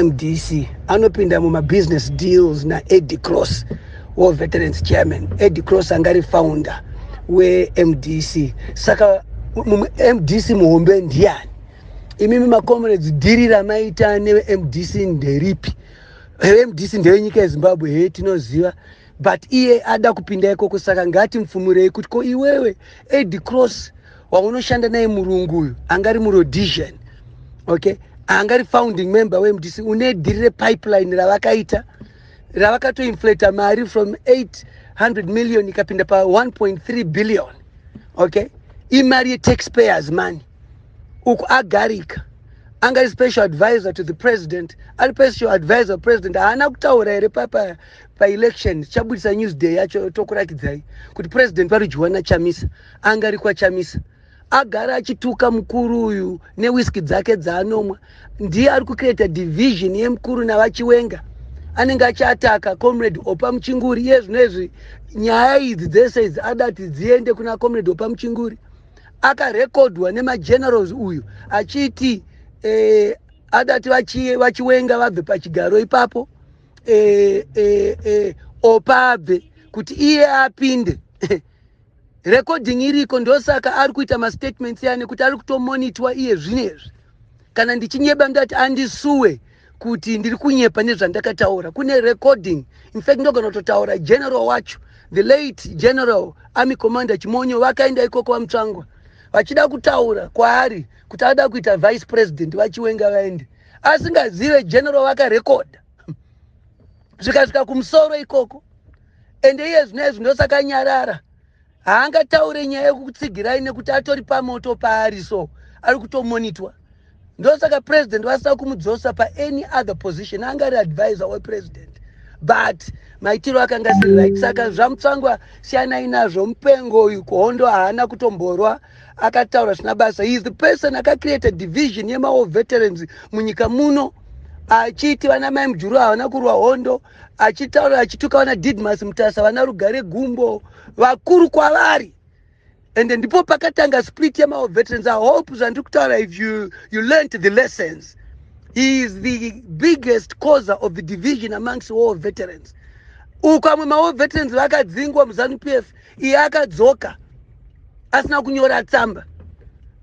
mdc anopinda mumabusiness deals naedi cross war veterans chairman edi cross anga ari founder wemdc saka mdc muhombe ndiyani imimi macomrades dhiri ramaita nevemdc nderipi vemdc ndevenyika yezimbabwe hee tinoziva but iye ada kupinda ikoko saka ngatimfumurei kuti ko iwewe edi cross waunoshanda naye murungu uyu angari murodision okay angari founding member wemdc une dhiri repipeline ravakaita ravakatoinflata mari from 800 million ikapinda pa 1.3 billion okay imari yetaxpayers money uku agarika anga ari special advisor to the president ari special advisor president haana kutaura here papa paelection chabudisa newsday yacho tokurakidzai kuti president vari juwana chamisa anga ari kwachamisa agara achituka mukuru uyu newiski dzake dzaanomwa ndiye ari kucreata division yemukuru navachiwenga anenge achiataka comrade opa muchinguri iye zvino izvi nyaya idzi dzese idzi ada kuti dziende kuna comrade opa muchinguri akarekodwa nemagenerals uyu achiti eh, ada kuti vachiwenga vabve pachigaro ipapo eh, eh, eh, opa abve kuti iye apinde recording iriko ndosaka ari kuita mastatements ane kuti ari kutomonitwa iye zvinezvi kana ndichinyeba ndati andisuwe kuti ndiri kunyepa nezvandakataura kune recording infact ndogona kutotaura general wacho the late general army commander chimonyo vakaenda ikoko vamutsvangwa vachida kutaura kwaari kuti ada kuita vice president vachiwenga vaende asingazive general vakarekodha zvikasvika kumusoro ikoko ende iye zvino izvi ndosakanyarara haangataure nyaya yekukutsigirai nekuti atori pamoto paari so ari kutomonitwa ndosaka president vasina kumudzosa paany other position anga ari advisor wepresident but maitiro akanga asiri right saka zvamutsangwa siyanai nazvo mupengo uyu kuhondo haana kutomborwa akataura zvina basa he is the person akacreate division yemawo veterans munyika muno achiti vana mai mujuru havana kurwa hondo achitaura achituka vana didmas mutasa vana rugare gumbo vakuru kwavari and ndipo pakatanga split yemao veterans i hope zvandiri kutaura if you, you learnt the lessons he is the biggest causer of the division amongst war veterans uku amwe mawar veterans vakadzingwa muzanu p f iye akadzoka asina kunyora tsamba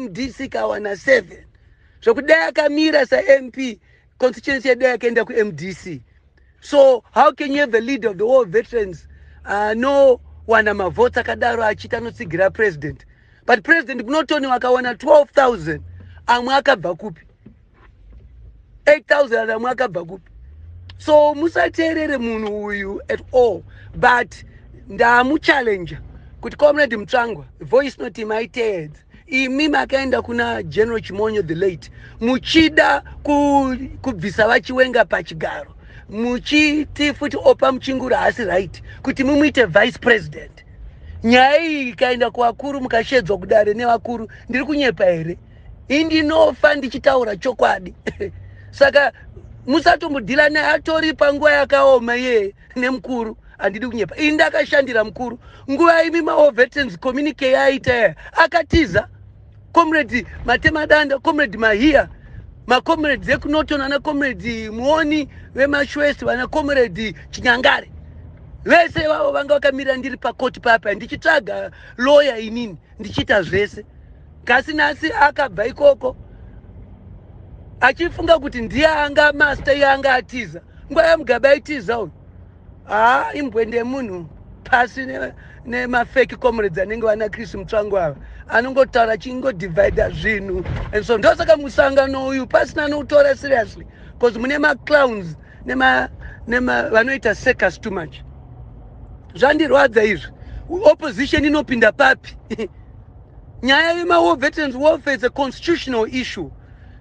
mdc kawana 7 zvokudai akamira samp constituency yedu yakaenda kumdc so how can you have a leader of the war veterans anowana uh, mavhotsi akadaro achiti anotsigira president but president kunotoni wakawana 12000 amwe akabva kupi 8000 amwe akabva kupi so musateerere munhu uyu at all but ndamuchallenger kuti comrade mutsvangwa voice noti maiteedza imi makaenda kuna general chimonyo the late muchida kubvisa vachiwenga pachigaro muchiti futi opa muchingura haasi right kuti mumuite vice president nyaya iyi ikaenda kuvakuru mukashedzwa kudare nevakuru ndiri kunyepa here indinofa ndichitaura chokwadi saka musatombodhila naye atori panguva yakaoma iyeye nemukuru handidi kunyepa ini ndakashandira mukuru nguva imi maovetens communike yaaita yaya akatiza comrade matemadanda comrade mahiya macomrades ekunoton ana comrade muoni vemashwest vana comrade chinyangare vese ivavo vanga vakamirira ndiri pakoti papa ndichitsvaga loya inini ndichiita zvese kasi nhasi akabva ikoko achifunga kuti ndiye anga master iye anga atiza nguva yamugaba aitiza uyu haa imbwende munhu pasi nemafeki ne comrades anenge vana chris mutsvango ava anongotaura achingodivida zvinhu and so ndosaka musangano uyu pasina nokutora seriously bcause mune maclowns nema nema vanoita circus too much zvandirwadza izvi opposition inopinda papi nyaya yemawar veterans warfare is a constitutional issue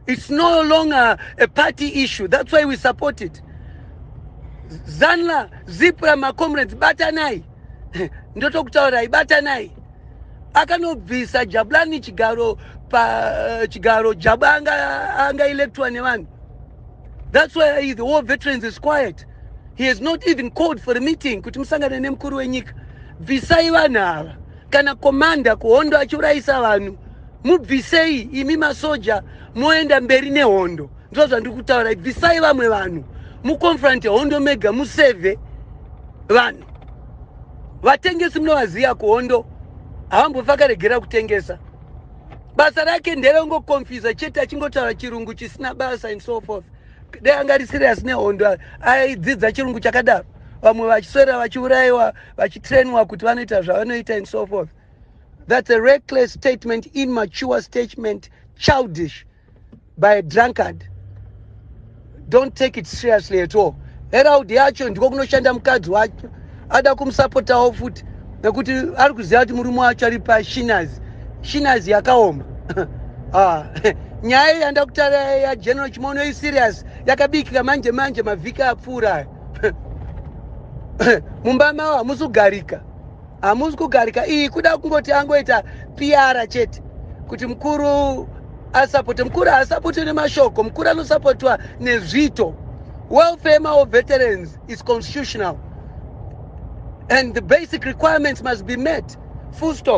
it's no longer a party issue that's why we support it zanla zipra macomrades batanai ndotokutaurai batanai akanobvisa jabulani chigaro pa eh, chigaro jaba anga, anga electwa nevanhu That's why the war veterans is quiet. He has not even called for a meeting kuti musangane nemukuru wenyika. Bvisai vanhu ava. Kana komanda kuhondo achiurayisa vanhu, mubvisei imi masoja moenda mberi nehondo. Ndizvo zvandiri kutaura. Bvisai vamwe vanhu. Muconfronte hondo mega museve vanhu. Vatengesi munovaziva kuhondo havambofakaregera kutengesa. basa rake nderengo confuse chete achingotaura chirungu chisina basa and so forth dai anga ari serious nehondo aidzidza chirungu chakadaro vamwe vachiswera vachiurayiwa vachitrainwa kuti vanoita zvavanoita and so forth that's a reckless statement immature statement childish by a drunkard don't take it seriously at all heraud yacho ndiko kunoshanda mukadzi wacho ada kumusapotawo futi nekuti ari kuziva kuti murume wacho ari pashinazi shinazi yakaoma ah, nyaya yanda kutara yageneral chimono iserious yakabikika manje manje mavhiki apfuura mumba mavo hamusi kugarika hamusi kugarika iyi kuda kungoti angoita piara chete kuti mukuru asapote mukuru haasapotwe nemashoko mukuru anosapotwa nezvito welfare mawo veterans is constitutional and the basic requirements must be met full stop